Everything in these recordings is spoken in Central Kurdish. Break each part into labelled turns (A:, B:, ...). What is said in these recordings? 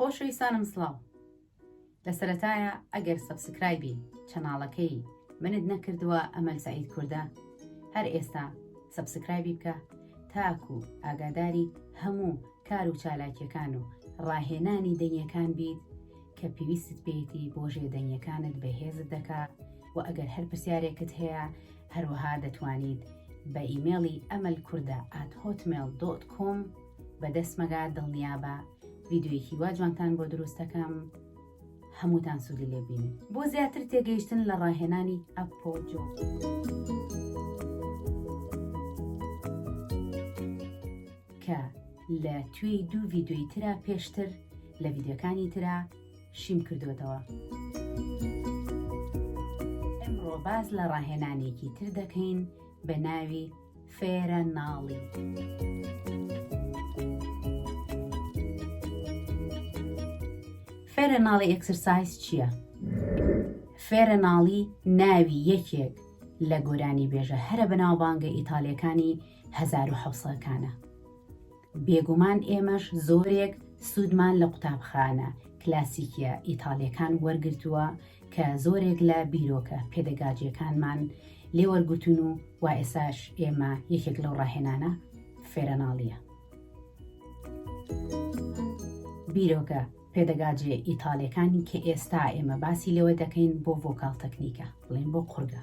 A: خۆشەویستانم سڵاو لە سەرەتایە ئەگەر سەبسکرایبی چەناڵەکەی منت نەکردووە ئەمەل سعید کوردە هەر ئێستا سەبسکرایبی بکە تاکو ئاگاداری هەموو کار و چالاکیەکان و ڕاهێنانی دەنگەکان بیت کە پێویستت پێیتی بۆ ژێدەنگەکانت بەهێزت دەکا و ئەگەر هەر پرسیارێکت هەیە هەروەها دەتوانیت بە ئیمێڵی ئەمەل کووردە ئات هۆتمێل دۆت کۆم بەدەست مەگا دڵنیابە ڤیددیویکی وا جوانتان بۆ دروستەکەم هەمووتان سوودی لێبین بۆ زیاتر تێگەیشتن لە ڕاهێنانی ئەپۆ جۆ. کە لە توێی دوو ڤیددیوی ترا پێشتر لە ڤیددیوەکانی ترا شیم کردوێتەوە. ئەمڕۆ باز لە ڕاهێنانێکی تر دەکەین بە ناوی فێرە ناڵی. فێرە ناڵی ئەکسرسایز چییە؟ فێرە ناڵی ناوی یەکێک لە گۆرانی بێژە هەرە بەناوبانگە ئیتالەکانی 1970کانە. بێگومان ئێمەش زۆرێک سوودمان لە قوتابخانە کلاسیکییە ئیتاڵییەکان وەرگرتووە کە زۆرێک لە بیرۆکە پێدەگاجییەکانمان لێ وەرگرتوون و وا ئێساش ئێمە یەکێک لەو ڕاهێنانە فێرەناڵییە بیرۆکە پێدەگاجێ ئیتاڵیەکانی کە ئێستا ئێمە باسی لەوە دەکەین بۆ ڤۆکال تەکنیکە بڵێن بۆ قورگە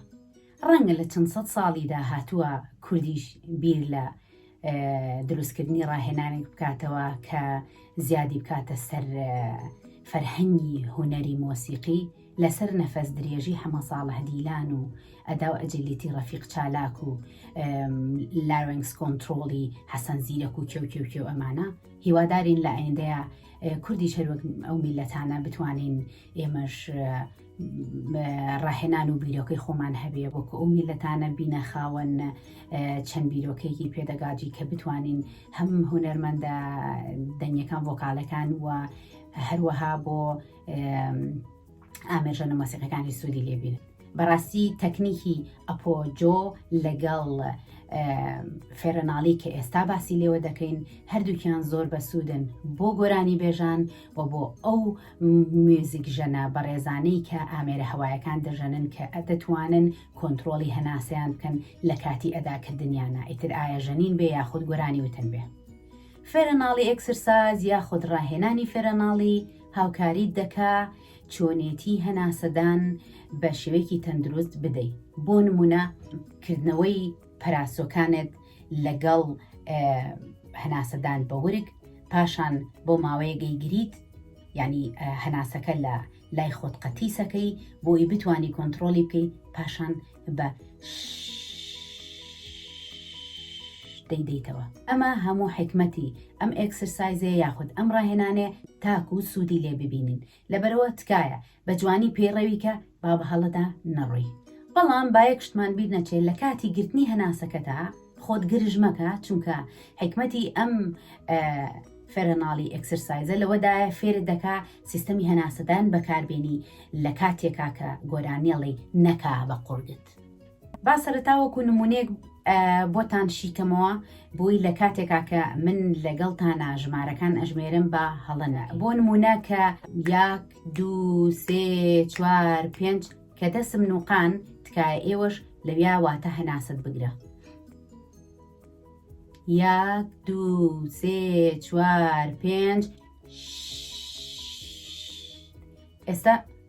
A: ڕەنگە لە چەند سەد ساڵی داهاتووە کوردیش بیر لە دروستکردنی ڕاهێنانێک بکاتەوە کە زیادی بکاتە سەر فەرهەنگی هوەری مۆسیقی لەسەر نەفەس درێژی حەمە ساڵح دیلان و ئەدا و ئەجلیتی ڕەفیق چالاک و لاوەنگس کۆنتترۆڵی حەسەن زیرەک و کێوکێوکێ و ئەمانە هیوادارین لە ئایندەیە کوردی شەروەک ئەو میلەتانە بتوانین ئێمەش ڕاهێنان و بیرۆکەی خۆمان هەبێ وەکو ئەو میلەتانە بینە خاوەن چەند بیرۆکەیەکی پێدەگاجی کە بتوانین هەم هوەرمەندە دەنگەکان ڤۆکالەکان و هەروەها بۆ ئامێژەن و مەسیقەکانی سوودی لێبین بەڕاستی تەکنیکی ئەپۆجۆ لەگەڵ فێرەناڵی کە ئێستا باسی لێوە دەکەین هەردووکیان زۆر بەسوودن بۆ گۆرانی بێژان و بۆ ئەو موزیک ژەنە بەڕێزانەی کە ئامێرە هەوایەکان دەژەنن کە دەتوانن کۆنترۆڵی هەناسەیان بکەن لە کاتی ئەداکردنیانە ئیتر ئایا ژەنین بێ یاخود گۆرانی وتن بێ. فێرەناڵی ئێکسرساز یاخود ڕاهێنانی فێرەناڵی هاوکاریت دەکا چۆنێتی هەناسەدان بە شێوەیەکی تەندروست بدەی بۆ نمونە کردنەوەی پەراسۆکانت لەگەڵ هەناسەدان بە ورگ پاشان بۆ ماوەیە گەیگریت یعنی هەناسەکە لە لای خۆت قەتیسەکەی بۆی بتانی کۆنتترۆلی بکەی پاشان بە دەیدەیتەوە ئەمە هەموو حکمەتی ئەم ئەکسرسایزێ یاخود ئەم ڕاهێنانێ تاکو سوودی لێ ببینین لەبەرئەوە تکایە بە جوانی پەیڕەوی کە با بە هەڵەدا نەڕۆی. بەڵام با یەک شتمان بیر نەچێ لە کاتی گرتنی هەناسەکەتا خۆت گرژ مەکە چونکە حیکمەتی ئەم فێرەناڵی ئێکسرسایزە لەوەدایە فێرت دەکا سیستەمی هەناسەدان بەکاربێنی لە کاتێکا کە گۆرانیەڵی نەکا بە قوڕگت. با سەرەتا وەکو نمونەیەک بۆتان شیکەمەوە بۆی لە کاتێکا کە من لەگەڵتانە ژمارەکان ئەژمێرم بە هەڵەنە بۆ نمونە کە یاک دو سێ چوار پێنج کە دەسم نوقان تکایە ئێوەش لەویا واتە هەناست بگرە یاک دو سێ چوار پێنج ئێستا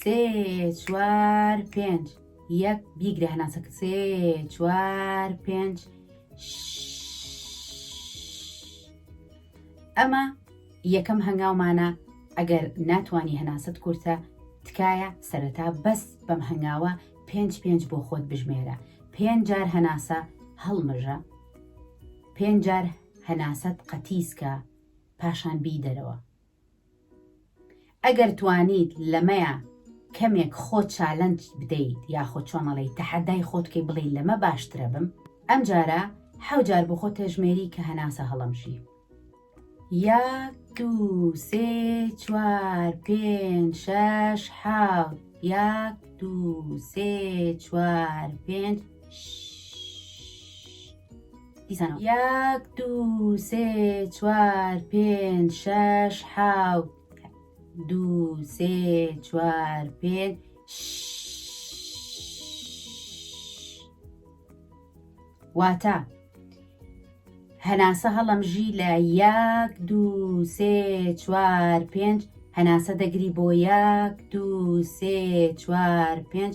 A: سێ چوار پێنج یەک بیگرە هەناسەکە سێ چوار پێنج ئەمە یەکەم هەنگاومانە ئەگەر ناتانی هەناست کورتە تکایە سەرەتا بەس بەم هەنگاوە پێنج پێنج بۆ خۆت بژمێرە پێنج جار هەناسە هەڵمژە پێنج جار هەناسەت قەتیسکە پاشان بی دەرەوە ئەگەر توانیت لەمەیا کەمێک خۆت چالنج بدەیت یاخۆ چۆمەڵی تەحەدای خۆت کەی بڵێ لەمە باشترە بم ئەم جارە حەو جار بۆ خۆ تێژمێری کە هەناسە هەڵەمژی یاک دوو سێ چوار پێنج شەش حاوت یاک دوو سێ چوار پێنج ش دیسانەوە. یەک دوو سێ چوار پێنج شەش حەوت دوو سێ چوار پێنج واتە هەناسە هەڵەمژی لە یەک دوو سێ چوار پێنج هەناسە دەگری بۆ یەک دوو سێ چوار پێنج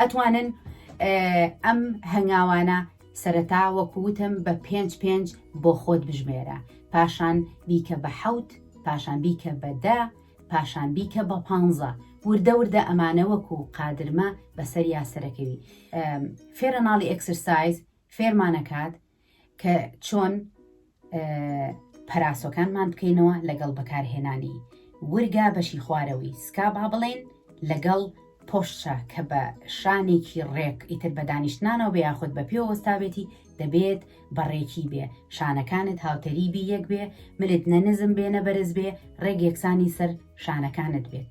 A: ئەتوانن ئەم هەنگاوانە سەرەتا وەکووتم بە پێنج پێنج بۆ خۆت بژمێرە پاشان بیکە بە حەوت پاشان بیکە بەدە پاشان بیکە بە پ وردە وردە ئەمانە وەکو قادرمە بەسەر یاسەرەکەوی فێرە ناڵی ئەکسرسایز فێرمانەکات کە چۆن پەراسۆکانمان بکەینەوە لەگەڵ بەکارهێنانی ورگا بەشی خوارەوەی سکا با بڵێن لەگەڵ پۆشچە کە بە شانێکی ڕێک ئیتر بە دانیشتنانەوە بێ یاخود بە پێ وەستاوێتی دەبێت بەڕێکی بێ شانەکانت هاوتەریبی یەک بێ ملت نەنزم بێ نەبەرز بێ ڕێک یەکسانی سەر شانەکانت بێت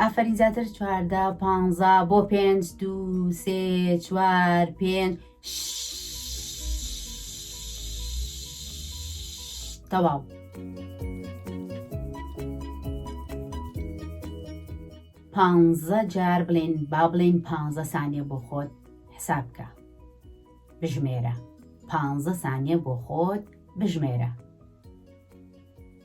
A: ئافەرین زیاتر چواردە پانزا بۆ پێنج دوو سێ چوار پێنج تەواو. پانزە جار بڵێن با بڵێن پ سانیە بۆ خۆت حساب بکە بژمێرە پ سانیە بۆ خۆت بژمێرە.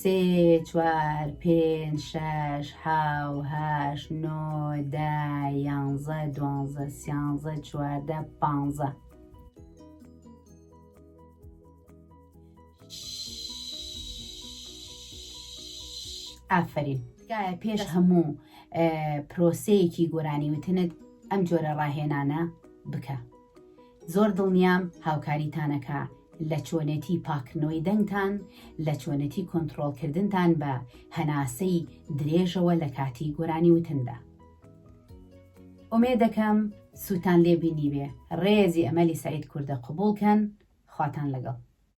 A: سێ چوار پێنج شەش حەو هەشت نۆ دە یانزە دوانزە سیانزە چواردە پانزە ئافرین تکایە پێش هەموو پرۆسەیەکی گۆرانی وتنت ئەم جۆرە ڕاهێنانە بکە زۆر دڵنیام هاوکاریتانەکا لە چۆنێتی پاکردنەوەی دەنگتان، لە چۆنێتی کۆنتڕۆڵکردنتان بە هەناسەی درێژەوە لە کاتی گۆرانی وتندا. ئومێدەکەم سوودتان لێ بینیبێ، ڕێزی ئەمەلی سەعید کوردە قبوڵ کەن، خواتان لەگەڵ.